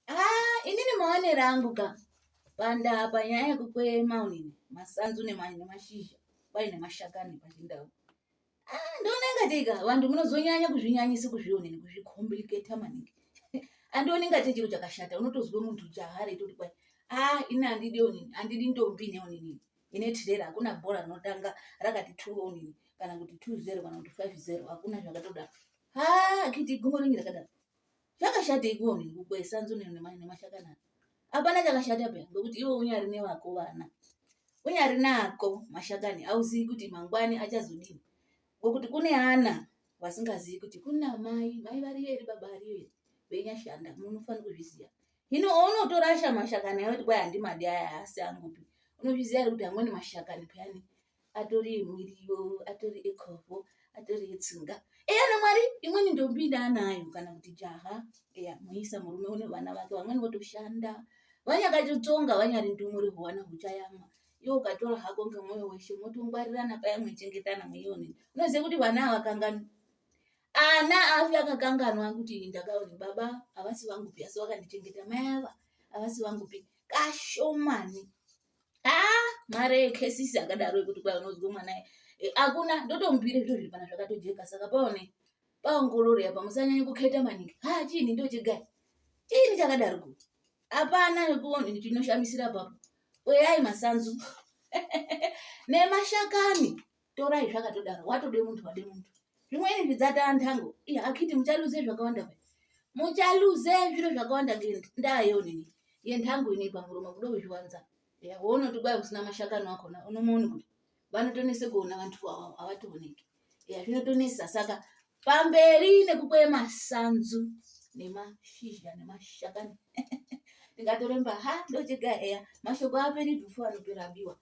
Ah, inini maonero angu ka pandaa panyaya yekukweye maunini masanzu nemashizha kwai nemashakani pachindau ah, ndoona ingatei ka vantu munozonyanya kuzvinyanyisa kuzvionini kuzvicomplicator maningi andioni ingatei chiro chakashata unotozwe muntu chahare toti kwai ah, ini handidi onini handidi ndombi neonini ine tirera hakuna bhora rinotanga rakati two onini kana kuti two zero kana kuti five zero hakuna zvakatoda ha akiti gumbo ringi rakadaro Zvakashatei kuva munhu kukwesa nzunu nemashakana? Hapana chakashata peya ngokuti iwe unyari nevako vana. Unyari nako mashakani auzivi kuti mangwani achazodini. Ngokuti kune ana vasingazivi kuti kuna mai, mai variyo here baba variyo here veinyashanda munofanira kuzviziva. Hino ounotorasha mashakani ayo kuti kwai handimadi aya haasi angupi. Unozviziva here kuti amweni mashakani peyani atori miriwo atori ecovo atori etsinga eya namwari imweni ndombi ndaanayo kana kuti jaha eya muisa murume une vana vake vamweni votoshanda vanyakatotsonga vanyari ndumure huwana huchayamwa iwe ukatora hako ngemwoyo weshe motongwarirana paya mwechengetana mweione unoziva kuti vana avakanganwi ana afi akakanganwa kuti ndakaoni baba havasi vangupi asi vakandichengeta mai ava havasi vangupi kashomani ah mare yekesisi akadaro yekuti kwai unozwa mwana hakuna eh, ndotomubira zviro zviri pana zvakatojeka saka paone paongororo yapa musanyanye kukheta maningi ha ah, chiini ndochigai chiini chakadaro ku hapana chinoshamisira papo oyai masanzu nemashakani torai zvakatodaro watode muntu wade muntu zvimweni zvidzataya ntango iya akiti muchaluze zvakawanda pe muchaluze zviro zvakawanda ndaa yeonini yentango inei pamuromo kuda kuzviwanza ya wounoti kwai usina mashakani wakona unomuoni kuti vanotonese kuona vantu vavo havatooneki ya zvinotonesa saka pamberi nekukwee masanzu nemashizha nemashakani ndingatoremba ha ndochega eya mashoko aperi before anopera biwa